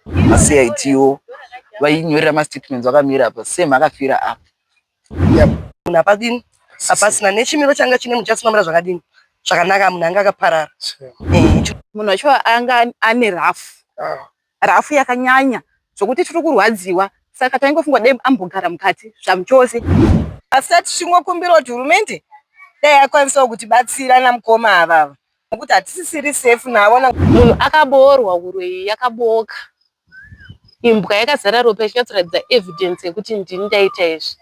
maCITO vainyorera mastatements vakamira apa same akafira apa munhu hapadini hapasina nechimiro changa chine muchasi mamira zvakadini zvakanaka munhu anga akaparara eh, munhu wacho anga ane rafu ah. rafu yakanyanya zvokuti tiri kurwadziwa saka taingofunga dai ambogara mukati zvamuchose asi tati chingokumbira kuti hurumende dai akwanisawo kutibatsira namukoma avava Nokuti hatisisiri safe navo. Munhu akaboorwa huroyi yakabooka. Imbwa yakazara ropa ichinyatsoratidza evidence yekuti ndini ndaita izvi.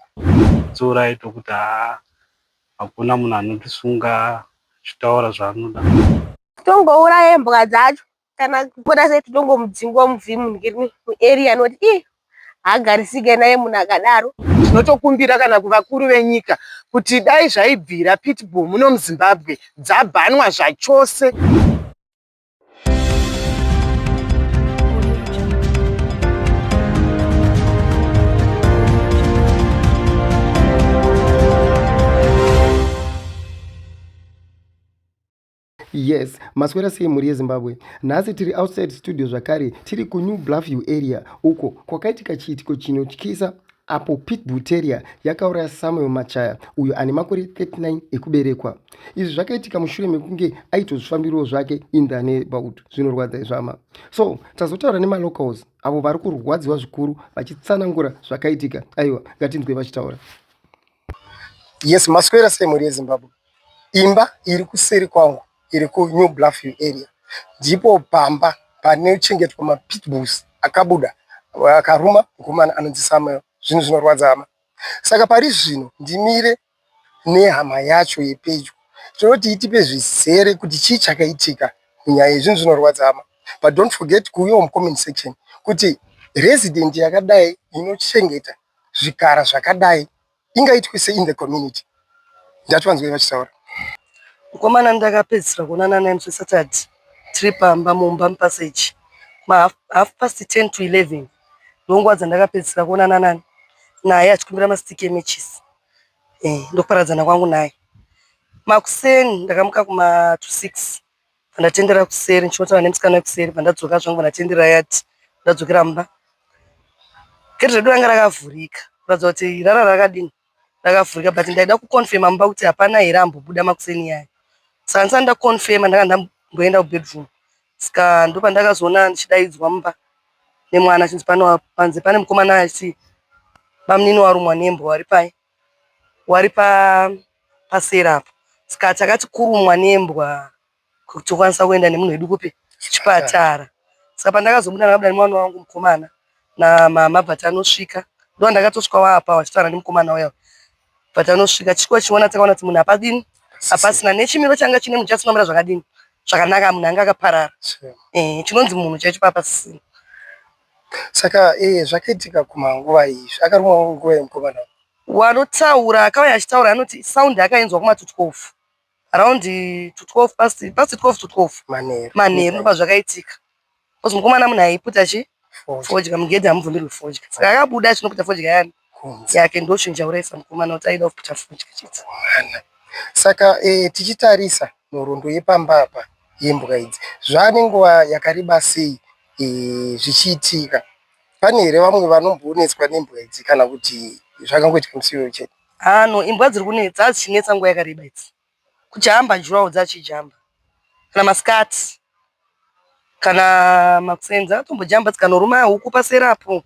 Dziurai tokuti haa hakuna munhu anotisunga achitaura zvaanoda. Tongouraya imbwa dzacho kana kuona sei tinongomudzingwa muvhim muarea anoti ii haagarisike naye munhu akadaro tinotokumbira kana kuvakuru venyika kuti dai zvaibvira pitbull muno muzimbabwe dzabhanwa zvachose Yes, maswera sei mhuri yeZimbabwe? Nhasi tiri outside studio zvakare, tiri kuNew Bluffview area uko kwakaitika chiitiko chinotyisa apo Pitbull Terrier yakauraya Samuel Machaya uyo ane makore 39 ekuberekwa. Izvi zvakaitika mushure mekunge aitozvifambiriwo zvake in the neighborhood. Zvinorwadza izvama. So, tazotaura nemalocals avo vari kurwadziwa zvikuru vachitsanangura zvakaitika. Aiwa, ngatinzwe vachitaura. Yes, maswera sei mhuri yeZimbabwe? Imba iri kuseri kwangu iri ku New Bluffview area ndipo pamba panochengetwa ma pitbulls akabuda akaruma mukomana anonzi Samuel. Zvinhu zvinorwadza hama saka parizvino ndimire nehama yacho yepedyo tinoti itipe zvizere kuti chii chakaitika munyaya iyi. Zvinhu zvinorwadza hama but don't forget kuuyawo mu comment section kuti resident yakadai inochengeta zvikara zvakadai. ingaitwe sei in the community ndativanzwei vachitaura mukomana ndakapedzisira kuonana naye musi saturday tiri pamba mumba mupaseji mahalf half past 10 to 11 ndonguva dzandakapedzisira kuonana nani naye achikumbira masitiki emechisi eh, ndokuparadzana kwangu naye makuseni ndakamuka kuma to 6 Pandatendera kuseri ndichinotaura nemusikana wekuseri pandadzoka zvangu pandatendera yati ndadzokera mumba gate redu ranga rakavhurika kuratidza kuti rara rakadini rakavhurika but ndaida kuconfirma mumba kuti hapana here ambobuda makuseni yaya saka ndisati ndaconfirma ndanga ndamboenda kubedroom saka ndopandakazoona ndichidaidzwa mumba nemwana chinzi panzi pane mukomana achiti bamunini warumwa nembwa wari pai wari paseri apa saka takati kurumwa nembwa kuti tokwanisa kuenda nemunhu wedu kupi kuchipatara saka pandakazobuda ndakabuda nemwana wangu mukomana namama but anosvika ndo ndakatosvika waapa wachitaura nemukomana uya but anosvika chiko chiona takaona kuti munhu hapadini hapasina nechimiro changa chine munhu chasinomira zvakadini zvakanaka munhu anga akaparara eh, chinonzi munhu chaicho papasisina Saka ee zvakaitika kuma nguva iyi akarumwa nguva iyi mukomana uyu. Wanotaura akauya achitaura anoti sound yakainzwa kuma to 12 around to 12 past past 12 to 12 Manheru. manheru ndipo pazvakaitika because mukomana munhu aiputa chii Fodya. fodya mugedhi hamubvumirwi fodya saka akabuda achinoputa fodya yani kunze yake ndochinja uraisa mukomana kuti aida kuita futi chidzimwana saka eh, tichitarisa nhoroondo yepamba apa yembwa idzi zvaane nguva yakareba sei eh, zvichiitika pane here vamwe vanomboonetswa nembwa idzi kana kuti zvakangoitika musiwo chete ano imbwa dziri kunetsa hadzichinetsa nguva yakareba idzi kujamba juraho dzachijamba kana maskati kana makuseni dzakatombojamba dzikanoruma huku paseri apo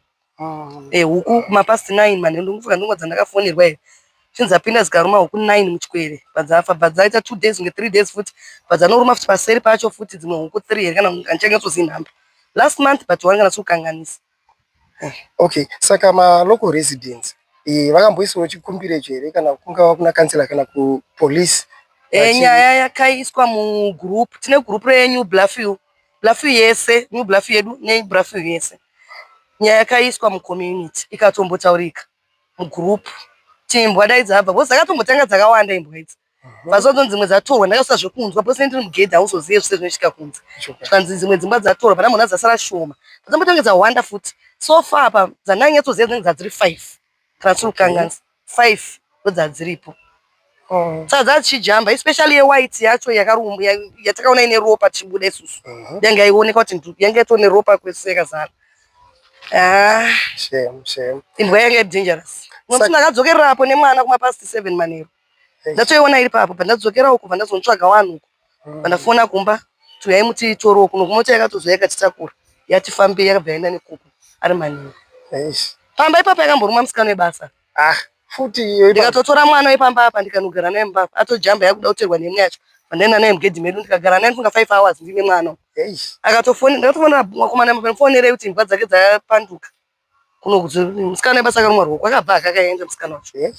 huku kumapast nine manheru ndofunga ndonguva dzandakafonerwa here zvinzi dzapinda dzikaruma huku nine muchikwere padzafa but dzaita two days kunge three days futi but dzanoruma futi paseri pacho futi dzimwe huku three here kana handichanyatsozii nhamba last month but wange ndasiwo kanganisa Okay, saka ma local residents eh, vakamboisawo chikumbiro icho here kana kungava kuna kansela kana kupolice? Eh, nyaya yakaiswa mugroup, tine group reNew Bluffview, Bluffview yese, New Bluffview yedu neBluffview yese. Nyaya yakaiswa mucommunity ikatombotaurika mugroup kuti imbwa dai dzabva, because dzakatombotanga dzakawanda imbwa idzi. vazonzi mhm. dzimwe dzatorwa ndakasvika zvekunzwa pose ndiri mugedhi hauzozive zvese zvinoitika kunze zvikanzi dzimwe dzimba dzatorwa pana munhu adzasara shoma dzambotenge dzawanda futi so far apa dzandanyatsoziva dzinenge dzadziri five kana tiri kukanganisa five ndodzadziripo oh. saka dzadzishijamba especially yewhite yacho yakarumbu yatakaona ine ropa tichibuda isusu mhm. yange yaioneka kuti yange yatoo neropa kwese yakazara ah. imbwa yange dangerous nokuti ndakadzokererapo nemwana kumapasti seven manero ndatoiona iri papo pandadzokerawo kubva ndazonotsvaga wanhu uko pandafona kumba tuyai muti itorowo kuno kumota yakatozouya ikatitakura yati fambei yakabva yaenda nekuku ari manini pamba ipapo yakamborumwa musikana webasa ah, futi ndikatotora mwana wepamba apa ndikanogara naye mubaba atojamba yakuda kuterwa nemwe yacho pandaenda naye mugedhi medu ndikagara naye ndifunga five hours ndine mwana akatofonera ndakatofonera mwakomana mufonerei kuti imbwa dzake dzapanduka kuno kuti musikana webasa akarumwa ruoko akabva akakaenda musikana wacho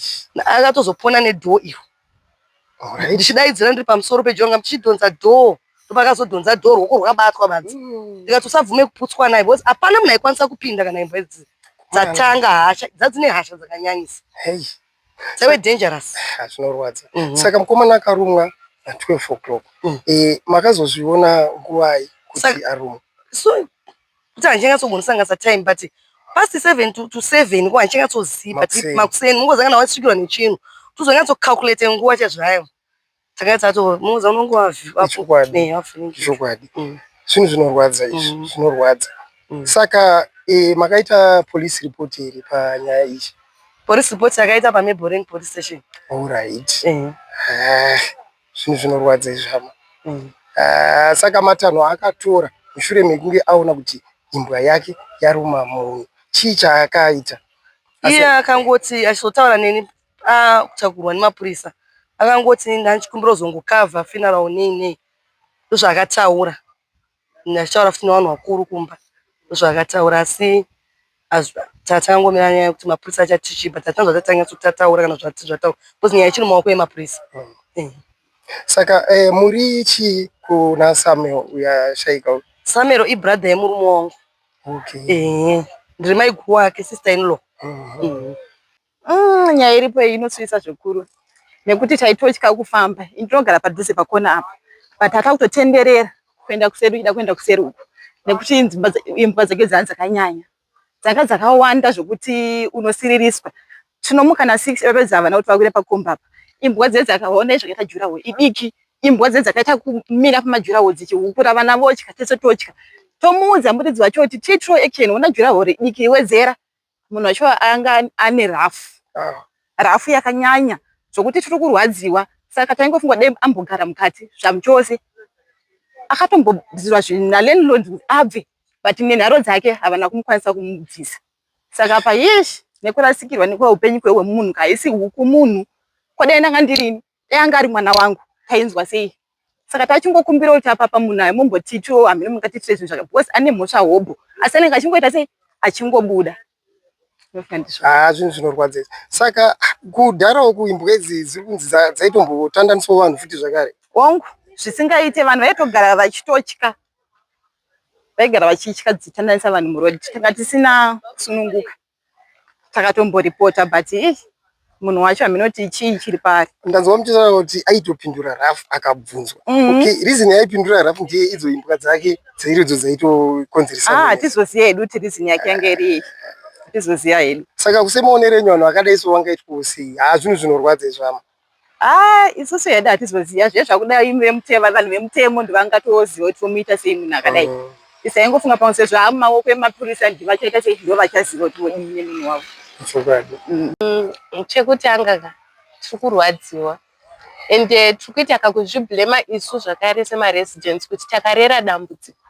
akatozopona nedhoo iyo ndichidaidzira ndiri pamusoro pedhoo nga ndichidhonza dhoo ndopakazodhonza dhoo ruoko rwakabatwa badzi mm. ndikati usabvume kuputswa naye because hapana munhu aikwanisa kupinda kana imbwa idzi dzatanga hasha dzadzine hasha dzakanyanyisa dzave dangerous ah, zvinorwadza mhm. saka mukomana akarumwa na 12 o'clock mm. eh, makazozviona nguvai kuti arumwa kuti handichanyatsogonosanganisa time but past seven to, to seven ko handichanyatsozivi but makuseni mungozangana wasvikirwa nechinhu tozonyatsocalculate nguva chazvayo takanyatsaatomuudza unonge wachokwadi mm. zvinhu zvinorwadza izvi mm. zvinorwadza mm. saka e, makaita police report here panyaya ichi police report yakaita pameboring police station allright eh. ah. zvinhu zvinorwadza izvi hama mm. uh, saka matanho akatora mushure mekunge aona kuti imbwa yake yaruma munhu chii chaakaita iye akangoti achizotaura neni akutagurwa ah, nemapurisa akangoti ndanchikumbira uzongokavha funeral nei nei ndozvaakataura Ndachitaura futi nevanhu vakuru kumba zvavakataura asi takangomira nyaya yekuti mapurisa achati chii but hatina zvatisati tanyatso tataura kana zvati zvataura because nyaya ichiri mumaoko emapurisa mm. saka eh, muri chii kuna samuel uyashaika samuel ibrother yemurume wangu okay. eh, ndiri maiguru wake sister inlaw mm -hmm. mm. Mm, nyaya iripo iyi inosuwisa zvikuru nekuti taitotya kufamba. Ini ndinogara padhuze pakona apa but atakutotenderera kuenda kuseri uchida kuenda kuseri uku nekuti imbwa dza- imbwa dzake dzanga dzakanyanya dzanga dzakawanda zvekuti unosiririswa. Tinomuka na six vapedza havana kuti vakwire pakomba apa. Imbwa dze dzakaona zvakaita juraho idiki imbwa dze dzakaita kumira pamajuraho dzichihukura vana votya tese totya. Tomuudza muridzi wacho kuti take true action ona juraho ridiki wedzera munhu wacho anga ane rafu ah. rafu yakanyanya zvokuti tiri kurwadziwa saka taingofunga dai ambogara mukati zvamuchose akatombobvisirwa zvinhu nalandlord kuti abve but nenharo dzake havana kumukwanisa kumubvisa saka payesh nekurasikirwa nekuva upenyu kwewe munhu kaisi huku munhu kwadai ndanga ndirini Dai anga ari mwana wangu tainzwa sei? Saka tachingokumbira kuti apapa munhu ayo mumbotitiwo hameno mungatiitire zvinhu zvaka because ane mhosva hobho asi anenge achingoita sei achingobuda haa ah, zvinhu zvinorwadza izvi saka kudharawo kuimbwa idzi dziri kunzi dzaitombotandaniswa vanhu futi zvakare hongu zvisingaite vanhu vaitogara vachitotya vaigara vachitya dzichitandanisa vanhu muroad tanga tisina kusununguka takatomboripota but ih munhu wacho haminoti chii chiri paari ndanzwa muchitaura kuti aitopindura raf akabvunzwa mm-hmm. okay reason yaipindura raf ndiye idzo imbwa dzake dzairidzo dzaitokonzeresa ah, hatizoziva hedu kuti reason yake yanga iri iyi hatizoziva hedu saka kusemaonerenyu vanhu vakadai so wangaitwa usei haa zvinhu zvinorwadza izvama Haa isusu hedu hatizoziva zviya zvakuda imi vemutemo, vanhu vemutemo ndovangatoziva kuti vomuita sei munhu akadai. Mm. Tisaingofunga pamwe sezvo haa mumaoko emapurisa ndi vachaita sei ndovachaziva kuti vodii nemunhu wavo. Chokwadi. Mm. Mm, chekutanga ka tiri kurwadziwa and uh, tiri kuita kakuzviblema isu zvakare semaresidents kuti takarera dambudziko.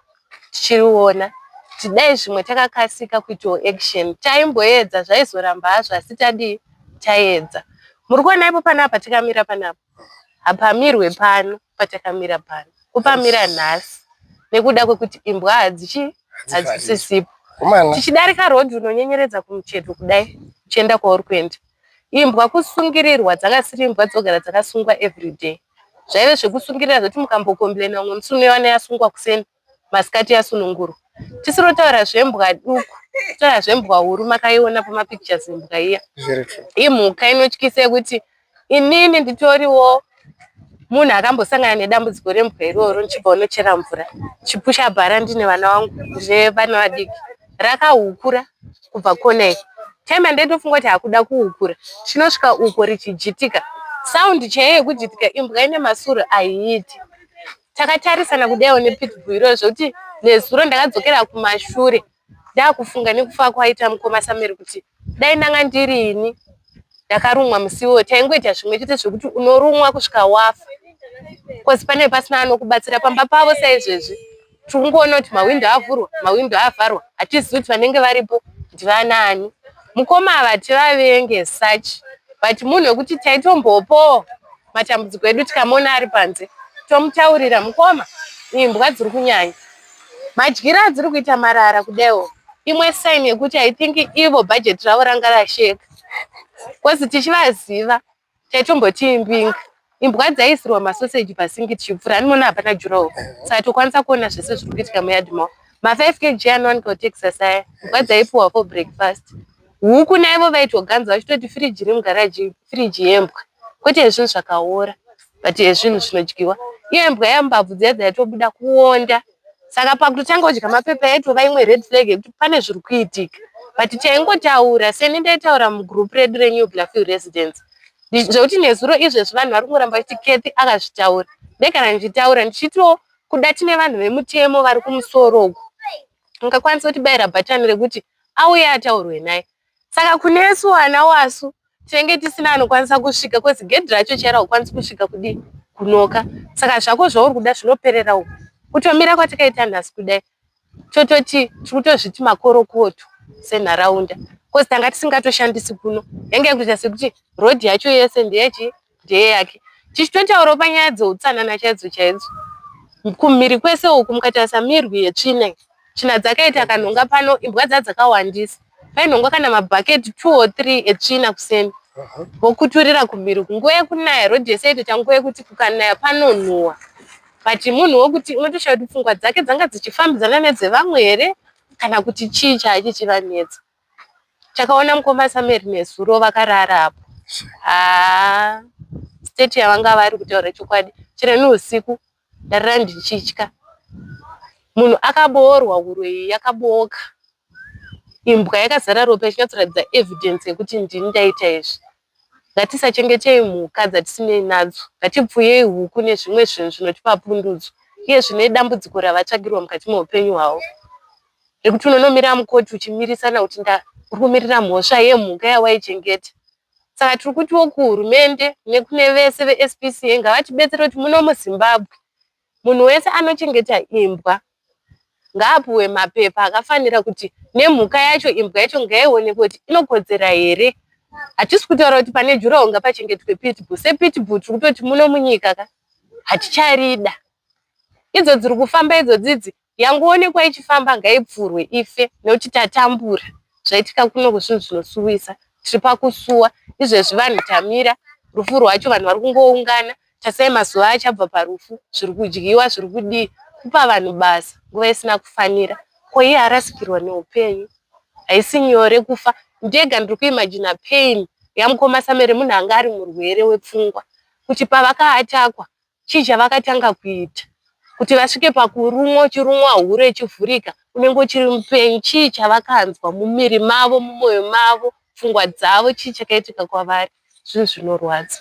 tichiona kuti dai zvimwe takakasika kuitawo action taimboedza zvaizoramba hazvo asi tadii taedza muri kuona ipo panapa tikamira panapa hapamirwe pano patakamira pano kupamira nhasi nekuda kwekuti imbwa hadzichi hadzisisipo tichidarika road unonyenyeredza kumucheto kudai uchienda kwauri kuenda Imbwa kusungirirwa dzakasiri imbwa dzogara dzakasungwa everyday. Zvaive zvekusungirira zvekuti mukambokombilaina umwe musi unoiwana yasungwa kuseni masikati yasunungurwa. Tisiri kutaura zvembwa duku kutaura zvembwa huru makaiona pamapictures imbwa iya. Imhuka inotyisa yekuti inini nditoriwo munhu akambosangana nedambudziko rembwa iroro ndichibva unochera mvura chipusha bhara ndine vana vangu ndine vana vadiki rakahukura kubva kona iko time andaidofunga kuti hakuda kuhukura chinosvika uko richijitika sound chaiyo yekujitika imbwa ine masuro aiiti takatarisana kudaiwo nepitbull iroo zvekuti nezuro ndakadzokera kumashure Ndakufunga nekufa kwaita mukoma Samuel kuti dai ndanga ndiri ini ndakarumwa musiwo taingoita zvimwe chete zvekuti unorumwa kusvika wafa kozi pane pasina anokubatsira pamba pavo saizvezvi tiri kungoona kuti mahwindo avhurwa mahwindo avharwa hatizivi kuti vanenge varipo ndivanaani mukoma ava tivavenge such but munhu wekuti taitombopo matambudziko edu tikamona ari panze tomutaurira mukoma imbwa dziri kunyanya madyiro adziri kuita marara kudaiwo imwe sign yekuti i think ivo budget ravo ranga rasheka bcause tichivaziva taitomboti imbinga imbwa dzaiisirwa masoseji pasingi tichipfura animoona hapana jurawo saka tokwanisa kuona zvese zviri kuitika muyadimo ma5 kg anowanika kutexas aya imbwa dzaipiwa for breakfast Huku naivo vaitoganza vachitoti firiji remugaraji firiji yembwa kwete yezvinhu zvakaora but yezvinhu zvinodyiwa iyo imbwa yambabvu dziya dzaitobuda kuonda saka pakutotanga kudya mapepa yaitova imwe red flag yekuti pane zviri kuitika but taingotaura seni ndaitaura mugroup redu renew blafield residence zvekuti nezuro izvezvi vanhu vari kungoramba vachiti kethi akazvitaura ndegara ndichitaura ndichitiwo kuda tine vanhu vemutemo vari kumusoro uku ungakwanisa kutibaira bhatani rekuti auye ataurwe naye saka kunesu ana wasu tinenge tisina anokwanisa kusvika bcause gedhi racho chairo haukwanisi kusvika kudii kunoka saka zvako zvauri kuda zvinoperera uku kutomira kwatakaita nhasi kudai tototi tiri kutozviti makorokoto senharaunda bcause tanga tisingatoshandisi kuno yange yakutoita sekuti road yacho yese ndeyechii ndeye yake tichitotaurawo panyaya dzeutsanana chaidzo chaidzo kumhiri kwese uku mukatarisa mirwi yetsvina tsvina dzakaita kanhonga pano imbwa dza dzakawandisa painhongwa kana mabhaketi two or three etsvina kuseni vokuturira kumhiri kunguva yekunaya rhodhi yese yaitoita nguva yekuti kukanaya panonhuwa but munhu wokuti unotoshaya kuti pfungwa dzake dzanga dzichifambidzana nedzevamwe here kana kuti chii chaichi chivanetsa takaona mukoma samueri nezuro vakarara apo haa state yavanga vari kutaura chokwadi chero neusiku ndarara ndichitya munhu akaboorwa uroyi yakabooka imbwa yakazara ropa ichinyatsoratidza evidence yekuti ndini ndaita izvi Ngatisachengetei mhuka dzatisinei nadzo, ngatipfuyei huku nezvimwe zvinhu zvinotipa pundutso uye zvine dambudziko ravatsvagirwa mukati meupenyu hwavo. Zvekuti unonomira mukoti uchimirisana kuti nda uri kumirira mhosva yemhuka yawaichengeta. Saka tiri kutiwo kuhurumende nekune vese veSPCA ngavatibetsere kuti muno muZimbabwe Munhu wese anochengeta imbwa ngaapuwe mapepa akafanira kuti nemhuka yacho imbwa yacho ngaionekwe kuti inokodzera here. Hatisi kutaura kuti pane juraho ngapachengetwe pitbull. Sepitbull tiri kutoti muno munyika ka haticharida. Idzo dziri kufamba idzodzidzi yangoonekwa ichifamba ngaibvurwe ife nekuti tatambura zvaitika kuno kuzvinhu zvinosuwisa tiri pakusuwa izvezvi vanhu tamira rufu rwacho vanhu vari kungoungana tasai mazuva achabva parufu zviri kudyiwa zviri kudii kupa vanhu basa nguva isina kufanira ko iye arasikirwa neupenyu haisi nyore kufa ndega ndiri kuimajina pain yamukoma samere munhu anga ari murwere wepfungwa kuti pavakaatakwa chii chavakatanga kuita kuti vasvike pakurumwa uchirumwa hure ichivhurika unenge uchiri mupenyu chii chavakanzwa mumiri mavo mumwoyo mavo pfungwa dzavo chii chakaitika kwavari zvinhu zvinorwadza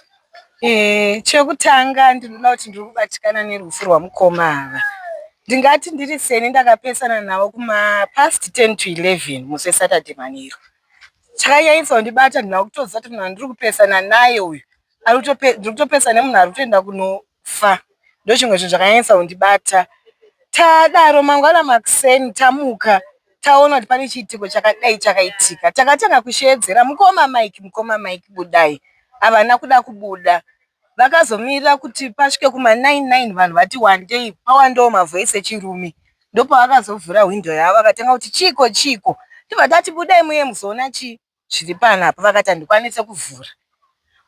e, chekutanga ndinoda kuti ndiri kubatikana nerufu rwamukoma ava ndingati ndiri seni ndakapesana navo kumapast 10 to 11 musi wesaturday manheru chakanyanyisa kundibata ndina kutoziva kuti munhu andiri kupesana naye uyu arikutopesa nemunhu arikutoenda kunofa ndochimwe chinhu chakanyanyisa kundibata tadaro mangwana makuseni tamuka taona kuti pane chiitiko chakadai chakaitika takatanga kusheedzera mukoma mike mukoma mike budai havana kuda kubuda vakazomirira kuti pasvike kuma 99 vanhu vati wandei pawandewo mavoice echirume ndopavakazovhura hwindo yavo vakatanga kuti chiiko chiiko tibva tati budai muye muzoona chii zviri panapa vakati handikwanise kuvhura.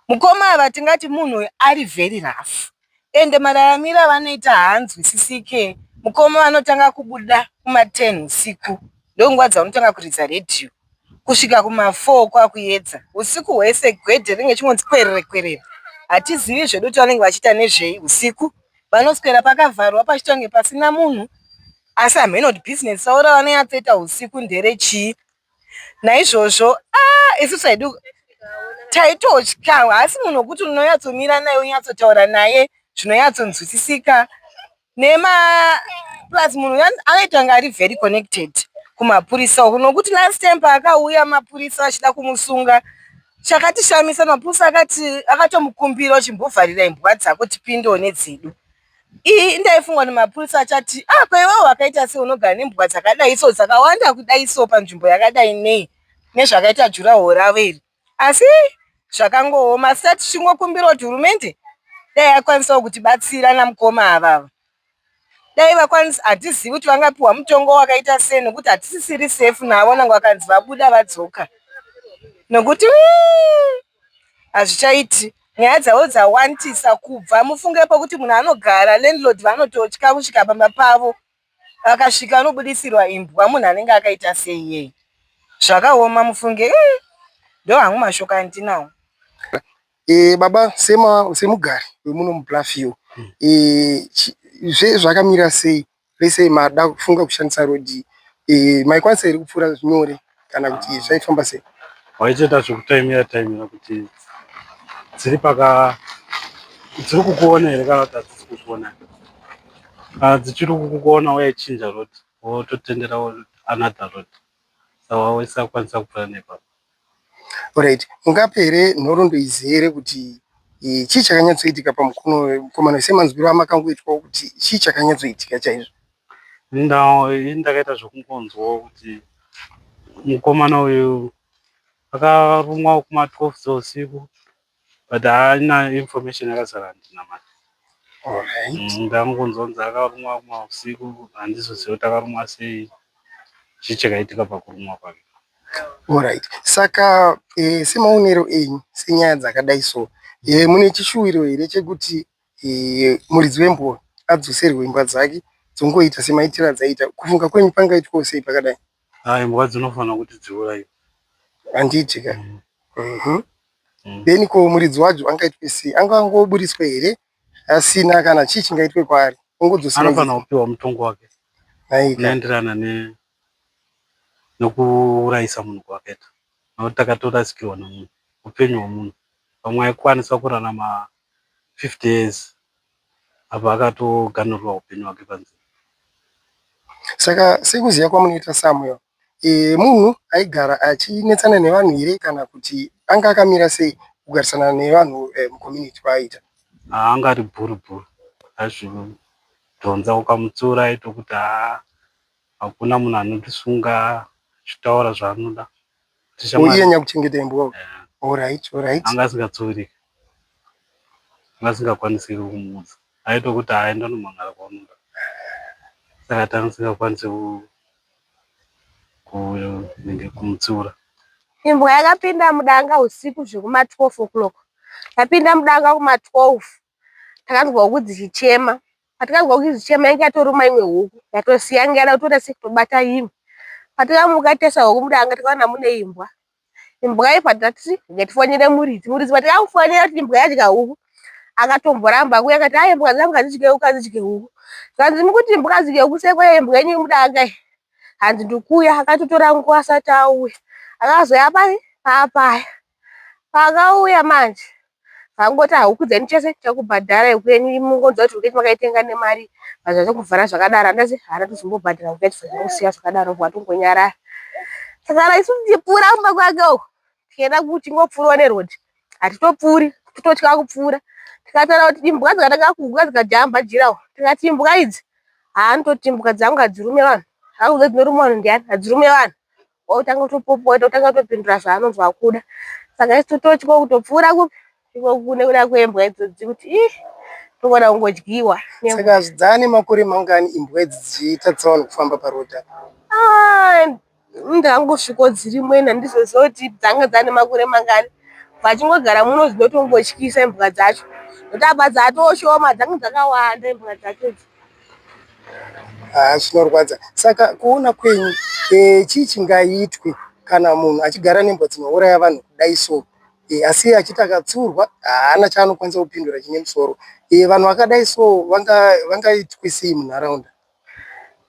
Mukoma ava tingati munhu uyu ari very rough ende mararamiro avanoita haanzwisisike. Mukoma vanotanga kubuda kuma ten husiku ndonguva dzavanotanga kuridza radio kusvika kuma four kwakuedza husiku hwese gedhe rinenge richingonzi kwerere kwerere hatizivi zvedu kuti vanenge vachiita nezvei husiku. Vanoswera pakavharwa pachitonge pasina munhu asi hameno kuti business ravo ravanonyatsoita husiku ndere chii. Naizvozvo ah, isu taidi taitotya, haasi munhu wekuti unonyatsomira naye wonyatsotaura naye zvinonyatsonzwisisika nema plus munhu uya anoita kunge ari very connected kumapurisa uku nokuti last time paakauya mapurisa achida kumusunga chakatishamisa mapurisa akati akatomukumbira chimbovharira imbwa dzako tipindewo nedzedu Iyi indaifungwa nemapurisa achati ah ko iwewe wakaita sei unogara nembwa dzakadai so dzakawanda kudai so panzvimbo yakadai nei nezvakaita jurahoro ravo iri asi zvakangooma asi tati tichingokumbirawo kuti hurumende dai yakwanisawo kutibatsira namukoma avava dai vakwanisa hatizivi kuti vangapiwa mutongo wakaita sei nokuti hatisisiri safe navo nange vakanzi vabuda vadzoka nokuti wii hazvichaiti nyaya dzavo dzawandisa kubva mufungepo kuti munhu anogara landlord vanototya kusvika pamba pavo vakasvika vanobudisirwa imbwa munhu anenge akaita sei iyeye zvakaoma mufunge eh, ndo hangu mashoko andinawo e, baba sema semugari wemuno muplafield e, zve zvakamira sei lesei mada kufunga kushandisa road iyi eh, maikwanisa here kupfuura nyore kana kuti ah. zvaifamba sei waicheta zvekutaimira taimira kuti dziri paka dziri kukuona here kana kuti hadzisi kukuona kana dzichiri kukuona waichinja road wototendera another road saka waisakwanisa kupfuura nepapa Alright, mungape here nhoroondo idzi here kuti eh, chii chakanyatsoitika pamukono wemukomana semanzwiro amakangoitwawo kuti chii chakanyatsoitika chaizvo? Ndau iyi ndakaita zvekungonzwawo kuti mukomana uyu akarumwa kuma 12 dzeusiku but haana information yakazara handina mari mm, ndangonzwa kunzi akarumwa rumwa usiku handizoziva kuti akarumwa sei chii chakaitika pakurumwa kwake Alright. Saka e, semaonero enyu senyaya dzakadai so e, mune chishuwiro here chekuti muridzi wemboro adzoserwe imbwa dzake dzongoita semaitiro adzaiita kufunga kwenyu pangaitwawo sei pakadai ah, imbwa dzinofanira kuti dziurayiwe handiti ka mm. mhm. mm. then ko muridzi wacho angaitwe sei anga angoburitswe here asina kana chii chingaitwe kwaari ongodzoseanofanira kupiwa mutongo wake unoenderana nokuurayisa munhu kwakaita nokuti takatorasikirwa nomunhu upenyu hwomunhu pamwe aikwanisa kurarama 50 years apa akatoganhurwa hupenyu hwake panzira. Saka sekuziva kwamunoita Samuel eh, munhu aigara achinetsana nevanhu here kana kuti anga akamira sei kugarisana nevanhu eh, mucommunity kwaaita? Ah, anga ari bhuru bhuru, aizvidhonza ukamutsiura aitokuti haa Hakuna munhu anotisunga achitaura zvaanoda. Iye nyakuchengeta imbwa. Alright, alright. Anga asingatsori. Anga asingakwanisi kumuudza. Aitokuti aenda nomangara kwaunoda. Saka tanga tisingakwanisi kumutsiura. Imbwa yakapinda mudanga usiku zvekuma 12 o'clock. Yapinda mudanga kuma 12. Takanzwa huku dzichichema. Patikanzwa kuti zichema yange yatoruma imwe huku yatosiya yange yada kutoona sekutobata imwe. Patikamuka tese huku muda anga tikaona mune imbwa. Imbwa iyi patati ngatifonere muridzi. Muridzi patikamufonera kuti imbwa yadya huku akatomboramba kuya akati ayi imbwa dzangu hadzidye huku hadzidye huku. Zvanzi mukuti imbwa hadzidye huku seko imbwa yenyu muda anga iyi. Hanzi ndikuya akatotora nguva asati auya. Akazouya pari papaya. Paakauya manje vakangoti ah huku dzenyu chese tichakubhadharai huku yenyu mungonzwa kuti huku yenyu makaitenga nemari zvazvave kuvhara zvakadaro handati haana kuzombobhadhara huku yacho zvakangosiya zvakadaro watongonyarara takara isu tichipfuura kumba kwake uku tichienda kuchingopfuurwa neroad hatitopfuuri tototya kupfuura tikataura kuti imbwa dzikatanga kuhuka dzikajamba jirawo tikati imbwa idzi haanototi imbwa dzangu hadzirume vanhu hakuza dzinoruma vanhu ndiani hadzirume vanhu Wautanga kutopopota wotanga kutopindura zvaanonzi wakuda saka isu tototya kutopfuura kupi iko kune kuda kwembwa idzodzi kuti ih togona kungodyiwa saka hazvidzane makore mangani imbwa idzi dzichiita tsaona kufamba parodi apa ah, ndangosviko dziri mwena ndizoziva kuti dzanga dzane makore mangani vachingogara muno dzinotongotyisa imbwa dzacho kuti apa dzatoshoma dzanga dzakawanda imbwa dzacho idzi Haa zvinorwadza. Saka kuona kwenyu eh, chii chingaitwe kana munhu achigara nembwa dzinouraya vanhu kudai so eh, asi achiti akatsurwa haana chaanokwanisa kupindura chine musoro eh, vanhu vakadai so vanga- vangaitwe sei munharaunda?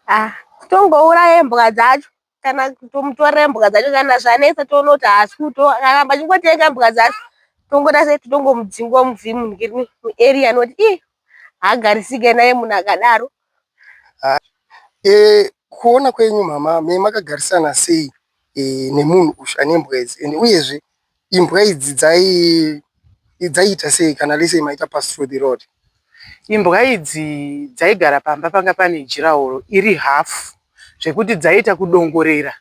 Ah, kutongouraya mbwa dzacho kana tomutore mbwa dzacho kana zvanetsa toona kuti haasi kuto akaramba achingotenga mbwa dzacho tongona sei titongomudzingwa muvhi muarea noti i haagarisike naye munhu akadaro ah, eh, kuona kwenyu mama me makagarisana sei eh, nemunhu uyu ane mbwa idzi and uyezve Imbwa idzi dzai dzaiita sei kana lese imaita pass through the road? Imbwa idzi dzaigara pamba panga pane jiraworo iri hafu zvekuti dzaiita kudongorera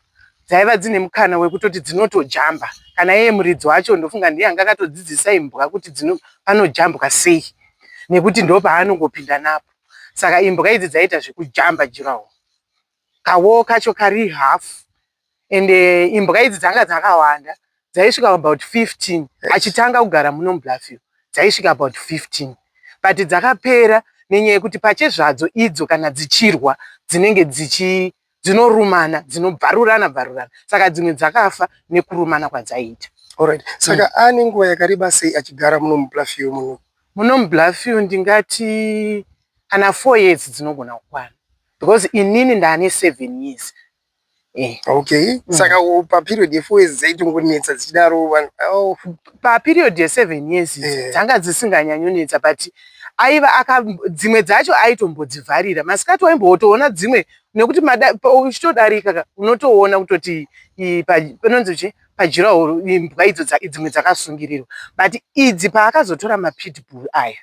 dzaiva dzine mukana wekutoti dzinotojamba kana iye muridzi wacho ndofunga ndiye anga akatodzidzisa imbwa kuti dzino panojambwa sei nekuti ndopaanongopinda napo saka imbwa idzi dzaiita zvekujamba jiraworo Kawoo kacho kari half and eh, imbwa idzi dzanga dzakawanda dzaisvika about 15 achitanga kugara muno mubluffview dzaisvika about 15 but dzakapera nenyaya yekuti pache zvadzo idzo kana dzichirwa dzinenge dzichi dzinorumana dzinobvarurana bvarurana saka dzimwe dzakafa nekurumana kwadzaiita Alright. Saka mm. ane nguva yakareba sei achigara muno mubluffview muno muno mubluffview ndingati kana four years dzinogona kukwana because inini ndane seven years eh. okay mm. saka paperiod yefour years dzaitongonetsa dzichidaro oh. paperiod yeseven years eh. dzanga eh. dzisinganyanyonetsa but aiva aka dzimwe dzacho aitombodzivharira masikati waimbotoona dzimwe nekuti uchitodarika unotoona kutoti panonzi chi pajirahoro imbwa idzo dzimwe dzakasungirirwa but idzi paakazotora mapitbull aya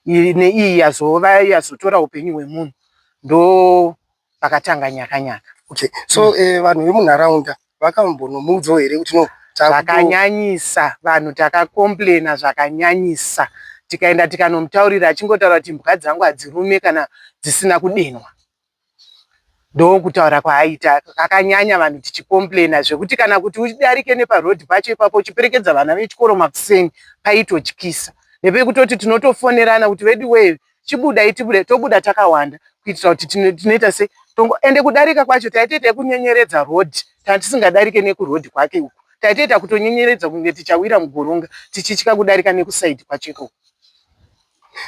neiyi yazova yazotora upenyu hwemunhu ndo pakatanga nyaka nyaka okay so mm. eh, vanhu vemunharaunda vakambonomuudzawo here kuti no zvakanyanyisa vanhu takakomplaina zvakanyanyisa tikaenda tikanomutaurira achingotaura kuti mbwa dzangu hadzirume kana dzisina kudenwa Ndokutaura kwaaita kakanyanya vanhu tichicomplainer zvekuti kana kuti udarike neparoad pacho ipapo uchiperekedza vana vechikoro makuseni paitotyisa nepekutoti tinotofonerana kuti veduwee chibudai tibude tobuda takawanda kuitira kuti tinoita se tongo ende kudarika kwacho taitoita yekunyenyeredza road kana tisingadarike nekuroad kwake uku taitoita kutonyenyeredza kunge tichawira mugoronga tichitya kudarika nekuside kwacho ikoko.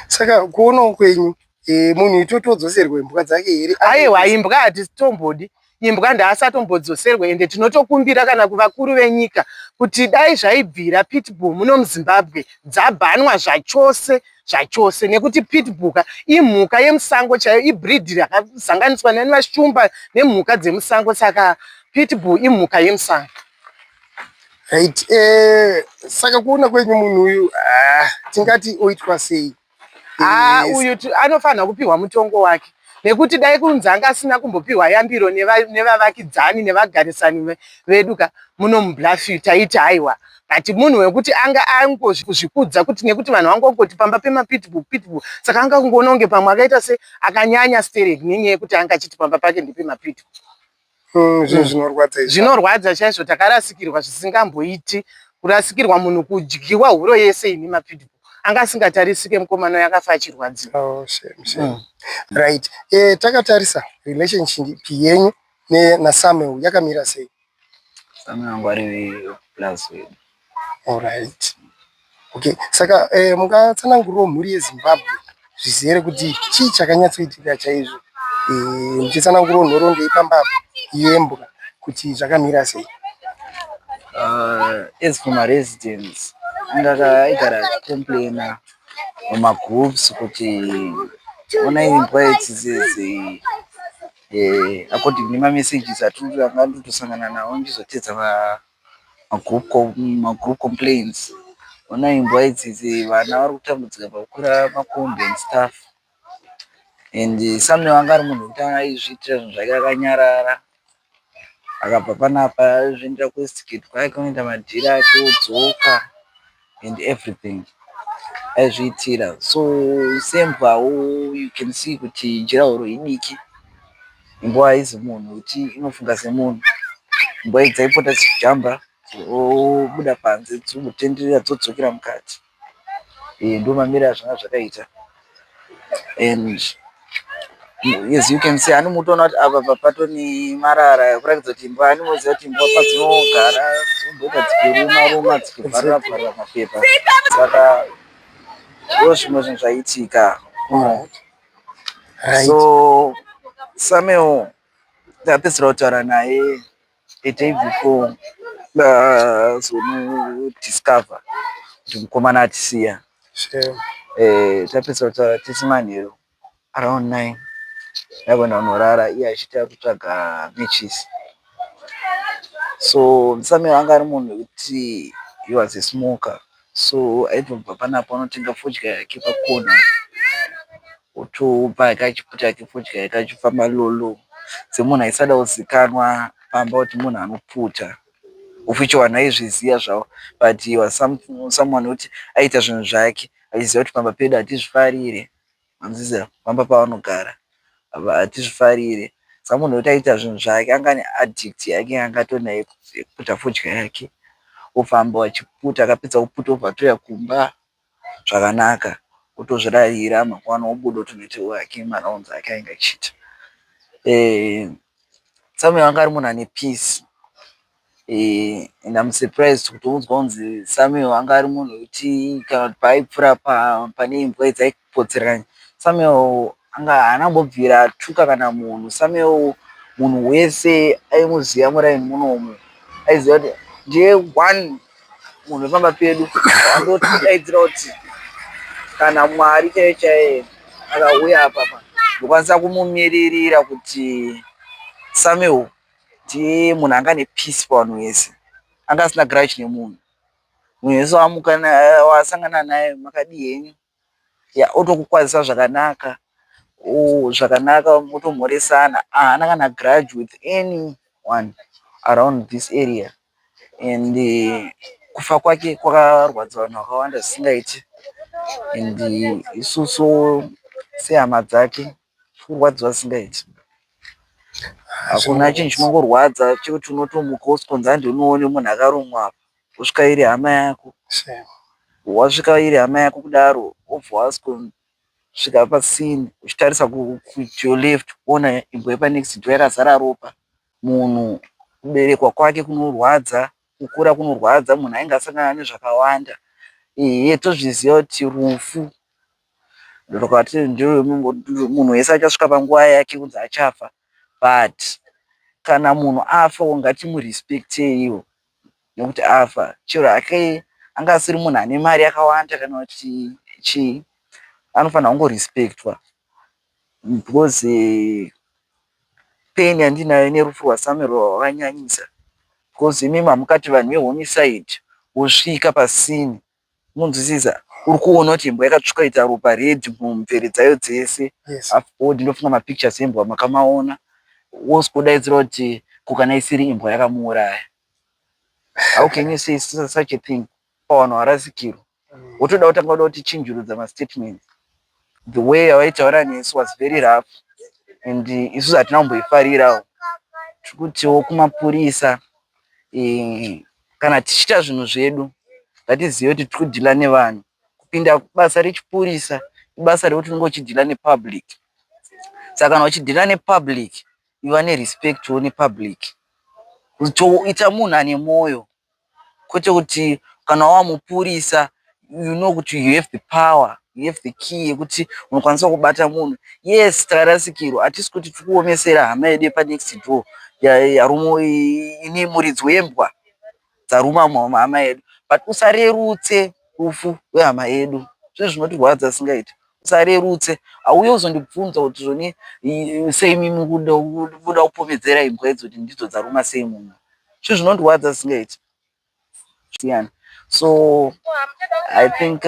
saka kuonawo kwenyu eh, munhu itotodzoserwa imbwa dzake here aiwa imbwa hatitombodi imbwa ndaasatombodzosere ende tinotokumbira kana kuvakuru venyika kuti dai zvaibvira pitbull muno muzimbabwe dzabhanwa zvachose zvachose nekuti pitbuka imhuka yemusango chaiyo ibreed rakazanganiswa nani vashumba nemhuka dzemusango saka pitbull imhuka yemusango Right. Eh, saka kuona kwenyu munhu uyu ah, tingati oitwa sei? Ah, eh, uyu anofanira kupihwa mutongo wake nekuti dai kunzi anga asina kumbopihwa yambiro nevavakidzani neva nevagarisani vedu ka muno mublafi taiti haiwa but munhu wekuti anga angozvikudza kuti nekuti vanhu vanga kungoti pamba pemapitbu pitbu saka anga kungoona kunge pamwe akaita se akanyanya sterek nenyaya yekuti anga achiti pamba pake ndepemapitbu mm, zvinhu mm. zvinorwadza izvi zvinorwadza chaizvo takarasikirwa zvisingamboiti kurasikirwa munhu kudyiwa huro yese ini mapidi anga asingatarisike mukomana uyo akafa achirwadzi oh, mm. right eh, takatarisa relationship yenyu nasamuel yakamira sei samuel angu ari plus wedu Alright. Okay. Saka eh, mungatsanangurirawo mhuri yeZimbabwe zvizere kuti chii chakanyatsoitika chaizvo eh, muchitsanangurawo nhoroondo yepambabvu yembwa kuti zvakamira sei? Uh, as for my residents, ndakaigara complainer mumagroups kuti onai imbwa idzi dzidzi eh, according nemamessages atiri anga ndotosangana nawo ndizotedza Magroup complaints hona imbwa idzidzi vana vari kutambudzika pakukwira makombi and stuff and Samuel anga ari munhu wekuti anga aizviitira zvinhu zvake akanyarara akabva panapa aizviendera kuWestgate kwaive kunoita madhiri ake odzoka and everything aizviitira so sembwawo you can see kuti jurahoro idiki imbwa haizi munhu kuti inofunga semunhu imbwa idzi aipota dzichijamba dzobuda panze dzotenderera dzodzokera mukati eh, ndo mamira zvanga zvakaita and as you can see ani mutoona kuti apa papato nemarara kuratidza kuti imbwa ani moziva kuti imbwa padzinogara dzomboita dzichiruma ruma dzichivharira vharira mapepa saka ndo zvimwe zvinhu zvaiitika so samuel tapedzisira kutaura naye the day before ndakazonodiscover kuti mukomana atisiya eh, tapedza kutaura tese manheru around nine ndakuenda kunorara iye achiti akutsvaga matches so msame anga ari munhu wekuti he was a smoker So aitobva panapo anotenga fodya yake pa corner otopa ka chiputi kake fodya yake achipa malolo semunhu aisada kuzikanwa pamba kuti munhu anoputa of which vanhu aizviziva zvavo but he was some, someone wekuti aiita zvinhu zvake achiziva kuti pamba pedu hatizvifarire Hanzii pamba pavanogara apa hatizvifarire samunhu wekuti aita zvinhu zvake anga ane addict yake yaanga atori nayo yekuputa fodya yake ofamba achiputa akapedza kuputa obva atouya kumba zvakanaka otozvirarira mangwana obuda otonoita hake marounds ake aainge achiita. Samuel anga ari munhu ane peace and I'm surprised kutonzwa kunzi Samuel anga ari munhu wekuti kana kuti paaipfura pane imbwa dzaipotserana Samuel anga haana kumbobvira atuka kana munhu Samuel munhu wese aimuziva muraini munomu aiziva kuti ndiye one munhu wepamba pedu andotidaidzira kuti kana Mwari chaiye chaiye akauya apapa ndokwanisa kumumiririra kuti Samuel ndiye munhu anga ane peace pavanhu vese anga asina grudge nemunhu munhu wese waamuka wasangana naye makadii henyu ya otokukwazisa zvakanaka o zvakanaka motomhoresana haana kana grudge with anyone around this area and eh, kufa kwake kwakarwadza vanhu vakawanda zvisingaiti and eh, isusu sehama dzake Kurwadziwa zvisingaiti. Hakuna chinhu chinongorwadza chekuti unotomuka wosikonzi handi unoone munhu akarumwa apa. Wosvika iri hama yako. Wasvika iri hama yako kudaro wobva wasikonzi svika pasini uchitarisa kuyo left kuona imbwa yepanext door yakazara ropa munhu kuberekwa kwake kunorwadza kukura kunorwadza munhu ainge asangana nezvakawanda ehe tozviziva kuti rufu Ndokati ndiwe munhu wese achasvika panguva yake kunzi achafa but kana munhu afawo ngatimurespecteiwo nekuti afa chero hake anga asiri munhu ane mari yakawanda kana kuti chii anofanira kungorespectwa because eh, pain yandinayo nerufu rwasamuel rwakanyanyisa because imimi hamukati vanhu vehomicide wosvika pasini Munzwisisa? Uri kuona kuti imbwa yakatsvuka ita ropa red mumvere dzayo dzese. Yes. Afterward ndofunga mapictures embwa makamaona. Wosvika wodaidzira kuti ko kana isiri imbwa yakamuuraya. How can you say such a thing pavanhu varasikirwa? Wotoda kutanga kuda kutichinjurudza mastatements. The way yavaitaura nesu was very rough and isusu hatina kumboifarirawo. Tiri kutiwo kumapurisa eh, kana tichiita zvinhu zvedu ngatizive kuti tiri kudhila nevanhu. Kupinda basa rechipurisa ibasa rekuti unenge uchidhila nepublic. Saka kana uchidhila nepublic iva nerespectwo nepublic. Kutoita munhu ane mwoyo. kwete kuti kana wava mupurisa you know kuti you have the power, you have the key yekuti unokwanisa kubata munhu. Yes tarasikirwa hatisi kuti tiri kuomesera hama yedu yepa next door ine muridzi wembwa dzaruma hama yedu but usarerutse rufu rwehama yedu. Zvinhu zvinotirwadza zvisingaite. Usarerutse hauye uzondibvunza kuti zvoni sei mimi kuda kupomedzera imbwa idzi kuti ndidzo dzaruma sei munhu. Zvinhu zvinondirwadza zvisingaiti. Zviyana. So I think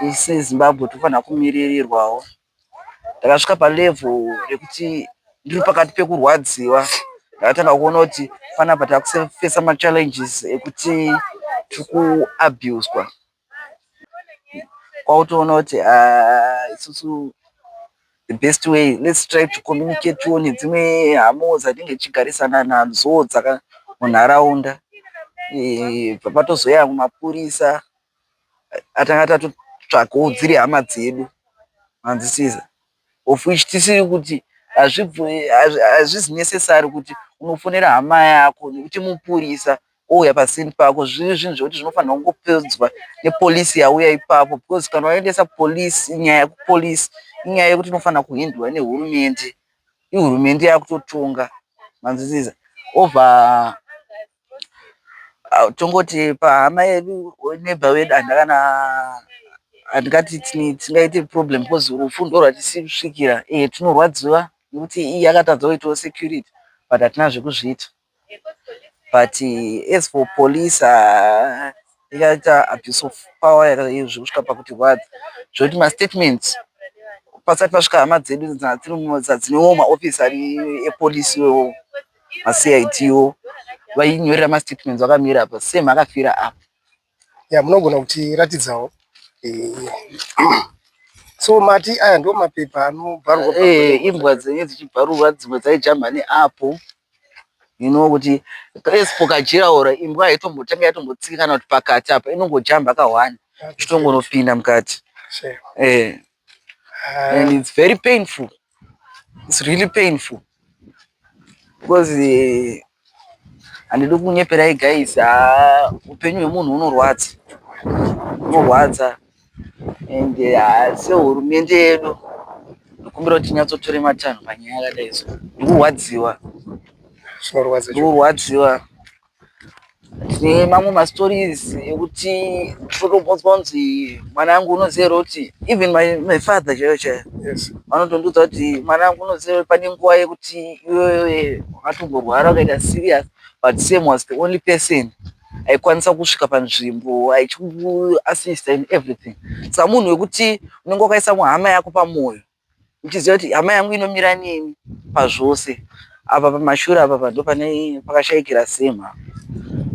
isu eh, Zimbabwe tinofanira kumiririrwawo. Ndakasvika palevel rekuti ndiri pakati pekurwadziwa ndakatanga kuona kuti panapa takusefesa machallenges ekuti tiri kuabuswa kwautoona kuti ah, isusu the best way let's try to communicate tione dzimwe hamo dzatinge tichigarisana nadzo dzaka munharaunda eh, patozouya mapurisa atanga tatotsvakawo dziri hama dzedu hanzisiza of which tisiri kuti hazvizi necessary kuti unofonera hama yako nekuti mupurisa ouya pasini pako zviri zvinhu zvekuti zvinofanirwa kungopedzwa nepolice yauya ipapo because kana waendesa police nyaya yekupolice inyaya yekuti inofanira kuhindurwa nehurumende ihurumende yakutotonga manzwisisa over Ah, tongoti pahama yedu neighbor wedu handakana handingati tini- tingaite problem because rufu ndo rwatisi kusvikira iye tinorwadziwa nekuti iye akatadza kuitawo security but hatina zvekuzviita but eh, as for police ah, yakaita abuse of power yaka- zvekusvika pakuti rwadza zvekuti mastatements pasati pasvika hama dzedu dzina- dziri mu- dza- dzinewo maoffice ari epolice iwewo maCID wo vainyorera mastatements vakamira apa same akafira apa. Yeah, munogona kutiratidzawo. Eh. so mati aya ndo mapepa anobharwa eh, imbwa dzenye dzichibharurwa dzimwe dzaijamba neapo inowo kuti esipo kajiraora imbwa haitombotanga yatombotsika kana kuti pakati apa inongojamba kahwani ichitongonopinda mukati eh. and it's very painful it's really painful because eh, handidi uh, kunyeperai guys ah, upenyu hwemunhu unorwadza unorwadza and uh, sehurumende yedu ndikumbira kuti tinyatsotore matanho panyaya yakadai so ndikurwadziwa ndikurwadziwa tine mamwe mastories ekuti totombodzwa kunzi mwana wangu unoziva kuti even my, my father chaiyo chaiyo yes vanotondiudza kuti mwana wangu unoziva kuti pane nguva yekuti iwewe wakatomborwara ukaita serious but sam was the only person aikwanisa kusvika panzvimbo achiku assista in everything samunhu wekuti unenge wakaisa muhama yako pamwoyo ndichiziva kuti hama yangu inomira neni pazvose apa pamashura apa pando pane pakashaikira semha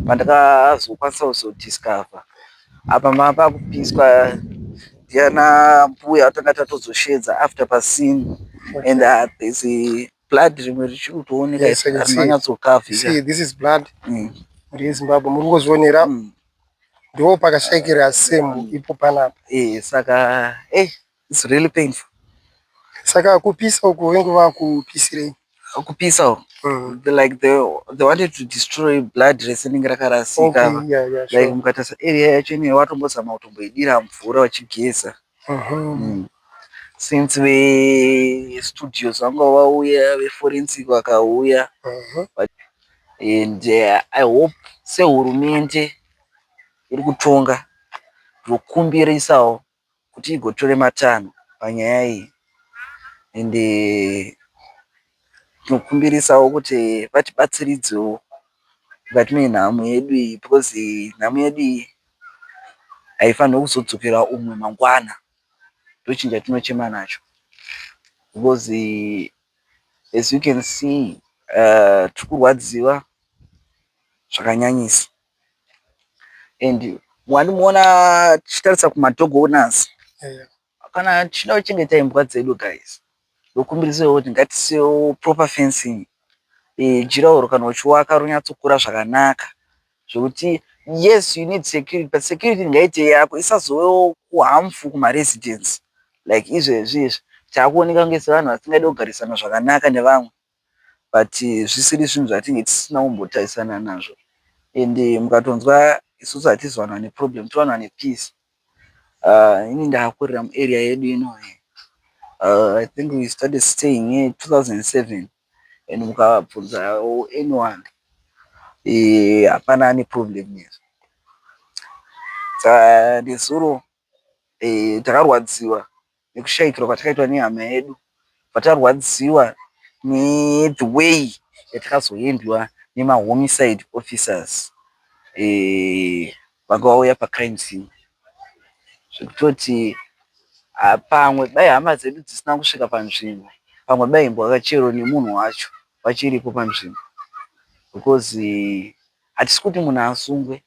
pandakazokwanisa kuzodiscover apa mapakupiswa ndiana mbuya atanga tatozoshedza after pasini and uh, there's a blood rimwe richiri kutooneka Yes, I can asi see. manyatsokavhira See, this is blood Mm. muri yezimbabwe muri kungozvionera Mm. ndo pakashaikira semu ipo panapa Eh, saka eh, It's really painful. Saka kupisa uko vengu vakupisirei? Kupisa uko. Mm. The, like they, they wanted to destroy blood resinenge rakarasika. Okay, yeah, yeah, sure. Like mukatasa area yacho ine watombozama kutomboidira mvura wachigeza. Uh mhm. -huh. mm. Since ve studios vanga vauya ve forensic vakauya. Uh mhm. -huh. And uh, I hope sehurumende iri kutonga ndokumbirisawo kuti igotora matanho panyaya iyi and tinokumbirisawo kuti vatibatsiridzewo mukati menhamo yedu iyi because nhamo yedu iyi haifanirwe kuzodzokera umwe mangwana ndochinhu chatinochema nacho because as you can see uh, tiri kurwadziwa zvakanyanyisa and wandimuona tichitarisa kumadog owners yeah. kana tichida kuchengeta imbwa dzedu guys ndokumbirisawo kuti ngatisewo proper fencing e, jiraoro kana uchiwaka ronyatsokura zvakanaka zvekuti yes you need security but security ngaite yako isazovewo kuhamfu kumaresidence like izvezvi izvi taakuoneka kunge sevanhu vasingadi kugarisana zvakanaka nevamwe but zvisiri zvinhu zvatinge tisina kumbotarisana nazvo and mukatonzwa isusu hatizi vanhu vane problem tiri vanhu vane peace uh, ini ndakakurira muarea yedu ino uh, i think we started staying here 2007 and mukabvunza anyone eh, hapana ane problem nezvo nezuro takarwadziwa nekushaikirwa kwatakaitwa nehama yedu patarwadziwa ne the way yatakazoendwa nema homicide officers vanga vauya pa crime scene zvekutoti pamwe dai hama dzedu dzisina kusvika panzvimbo pamwe daimbova chero nemunhu wacho vachiripo panzvimbo because hatisi kuti munhu asungwe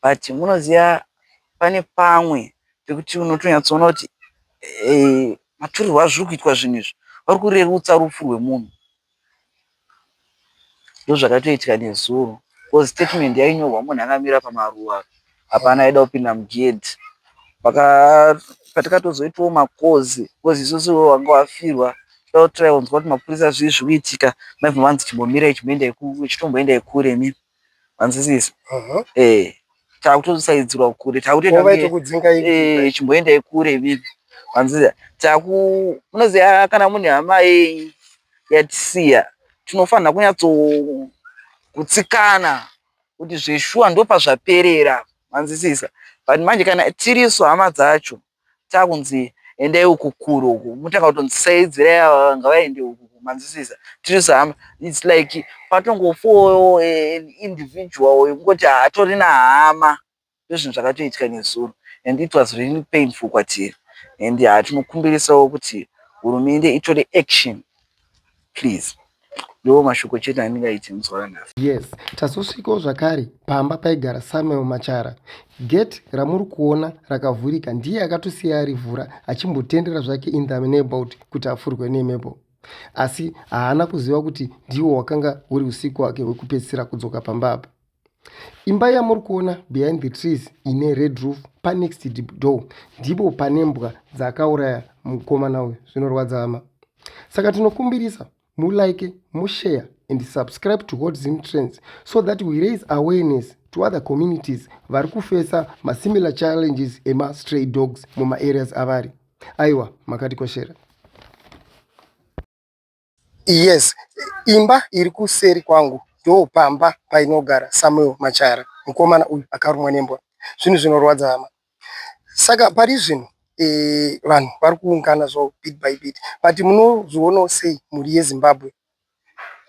but munoziva pane pamwe pekuti unotonyatsoona kuti maturirwo azviri kuitwa zvinhu izvi vari kurerutsa rufu rwemunhu. Ndozvakatoitika nezuro coz statement yainyorwa munhu akamira pamaruva hapana aida kupinda mugedhi. Patakatozoitawo macoz coz isusu wanga wafirwa taiwanzwa kuti mapurisa zvii zviri kuitika maibva manzi chimbomirai chimboendai kure. Manzwisisa? Uh-huh. Eh, takutosaidzirwa kure, takutoenda eh, chimboendai kure bibi. Manzwisisa? Taku unoziva kana mune hama yenyu yatisiya, tinofanira kunyatso kutsikana kuti zveshuwa ndopazvaperera. Manzwisisa? But manje kana tirisu hama dzacho takunzi endai uko kure uko motanga kutonzi saidzirai ava ngavaende uko manzwisisa tirisu hama its like patongofowo an individual yekungoti hatorina hama ndozvinhu zvakatoitika nezuro and it was really painful kwatiri and tinokumbirisawo kuti hurumende itore action please ndiwo mashoko chete andingaiti mudzora nhasi yes tazosvikawo zvakare pamba paigara samuel machara gate ramuri kuona rakavhurika ndiye akatosiya arivhura achimbotendera zvake in the neighborhood kuti afurwe nemhepo asi haana kuziva kuti ndiwo wakanga uri usiku wake hwekupedzisira kudzoka pamba apa imba yamuri kuona behind the trees ine red roof panext door ndipo pane mbwa dzakauraya mukomana uyu zvinorwadza hama saka tinokumbirisa mulike mushare and subscribe to hot zim trends so that we raise awareness to other communities vari kufesa masimilar challenges emastray dogs mumaareas avari aiwa makatikoshera Yes, imba iri kuseri kwangu ndoo pamba painogara Samuel Machara. Mukomana uyu akarumwa nembwa. Zvinhu zvinorwadza hama. Saka pari zvino eh, vanhu vari kuungana zvo bit by bit. But munozvionawo sei mhuri yeZimbabwe?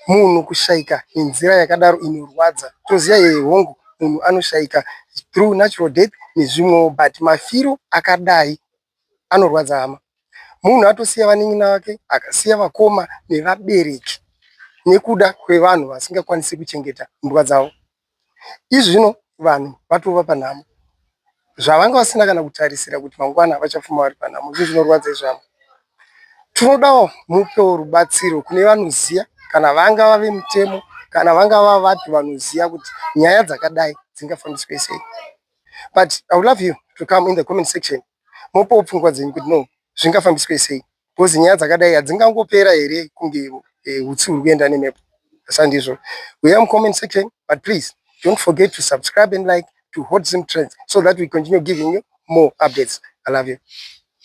Munhu kushaika nenzira yakadaro inorwadza. Toziva yeye hongu munhu anoshaika through natural death nezvimwewo but mafiro akadai anorwadza hama munhu atosiya vanin'ina vake akasiya vakoma nevabereki nekuda kwevanhu vasingakwanisi kuchengeta mbwa dzavo izvi zvino vanhu vatova panhamo zvavanga vasina kana kutarisira kuti mangwana vachafuma vari panhamo izvi zvinorwadza izvama tinodawo mupewo rubatsiro kune vanoziya kana vanga vave mutemo kana vanga vavapi vanoziya kuti nyaya dzakadai dzingafambiswe sei but i would love you to come in the comment section mopawo pfungwa dzenyu kuti no zvingafambiswe sei because nyaya dzakadai hadzingangopera here kunge eh, utsi huri kuenda nemhepo sandizvo we am comment section but please don't forget to subscribe and like to hot zim trends so that we continue giving you more updates i love you